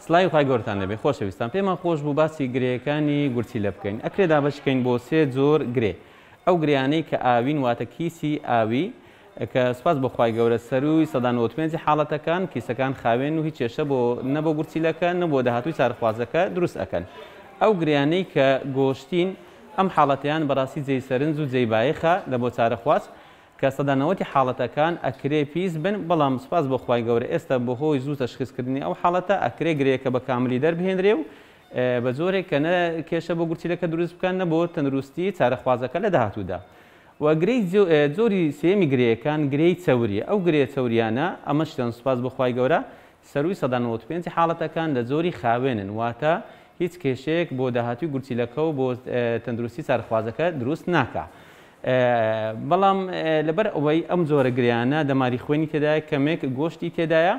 سڵاوی خوای گەورەتان لێبێ خۆشە ویستان پێمان خۆش بوو باسی گرێیەکانی گورچیلە بکەین ئەکرێ دابەش کەین بۆ سێ جۆر گرێ ئەو گرێیانەی کە ئاوین واتە کیسی ئاوی کە سوپاس بۆ خوای گەورە سەرووی سەدا نەوەد و پێنج ی حاڵەتەکان کیسەکان خاوێن و هیچ کێشە بۆ نە بۆ گورچیلەکە نە بۆ داهاتووی چارەخوازەکە دروست ئەکەن ئەو گرێیانەی کە گۆشتین ئەم حاڵەتەیان بەڕاستی جێی سەرنج و جێی بایەخە لە بۆ چارەخواز کە سەدا نەوەتی حاڵەتەکان ئەکرێ پیس بن بەڵام سوپاس بۆ خوای گەورە ئێستا بەهۆی زوو تەشخیس کردنی ئەو حاڵەتە ئەکرێ گرێیەکە بە کاملی دەربهێنرێ و بە جۆرێک کە نە کێشە بۆ گورچیلەکە دروست بکا نە بۆ تەندروستی چارەخوازەکە لە داهاتوودا. وە گرێی جۆری سێیەمی گرێیەکان گرێی چەوریە ئەو گرێ چەوریانە ئەمەشیان سوپاس بۆ خوای گەورە سەرووی سەدا نەوەت و پێنج ی حاڵەتەکان لە جۆری خاوێنن واتە هیچ کێشەیەک بۆ داهاتووی گورچیلەکە و بۆ تەندروستی چارەخوازەکە دروست ناکا بەڵام لەبەر ئەوەی ئەم جۆرە گریانە دەماری خوێنی تێدایە کەمێک گۆشتی تێدایە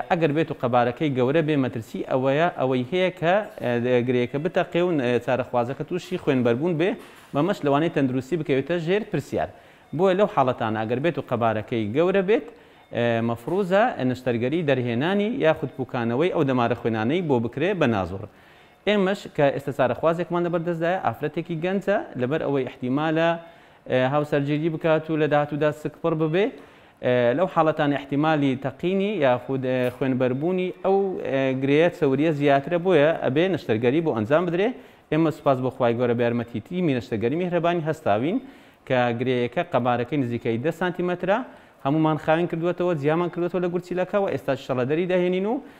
ئەگەر بێت و قەبارەکەی گەورە بێ مەترسی ئەوەیە ئەوەی هەیە کە گرێیەکە بتەقێ و چارەخوازەکە تووشی خوێنبەربوون بێ بەمەش لەوانەیە تەندروستی بکەوێتە ژێر پرسیار بۆیە لەو حاڵەتانە ئەگەر بێت و قەبارەکەی گەورە بێت مەفروزە نەشتەرگەری دەرهێنانی یاخود پوکانەوەی ئەو دەمارە خوێنانەی بۆ بکرێ بە نازوڕ ئێمەش کە ئێستا چارەخوازێکمان لەبەر دەستدایە، ئافرەتێکی گەنجە، لەبەر ئەوەی ئیحتیمالە هاوسەرگیری بکات و لە داهاتوودا سکپڕ ببێ، لەو حاڵەتانە ئیحتیمالی تەقینی یاخود خوێنبەربوونی ئەو گرێیە چەورییە زیاترە بۆیە ئەبێ نەشتەرگەری بۆ ئەنجام بدرێ، ئێمە سوپاس بۆ خوای گەورە بە یارمەتی تیمی نەشتەرگەری میهرەبانی هەستاوین کە گرێیەکە قەبارەکەی نزیکەی دە سانتیمەترە هەموومان خاوێن کردووەتەوە جیامان کردووەتەوە لە گورچیلەکە و ئێستاش ئیشەڵا دەری دەهێنین و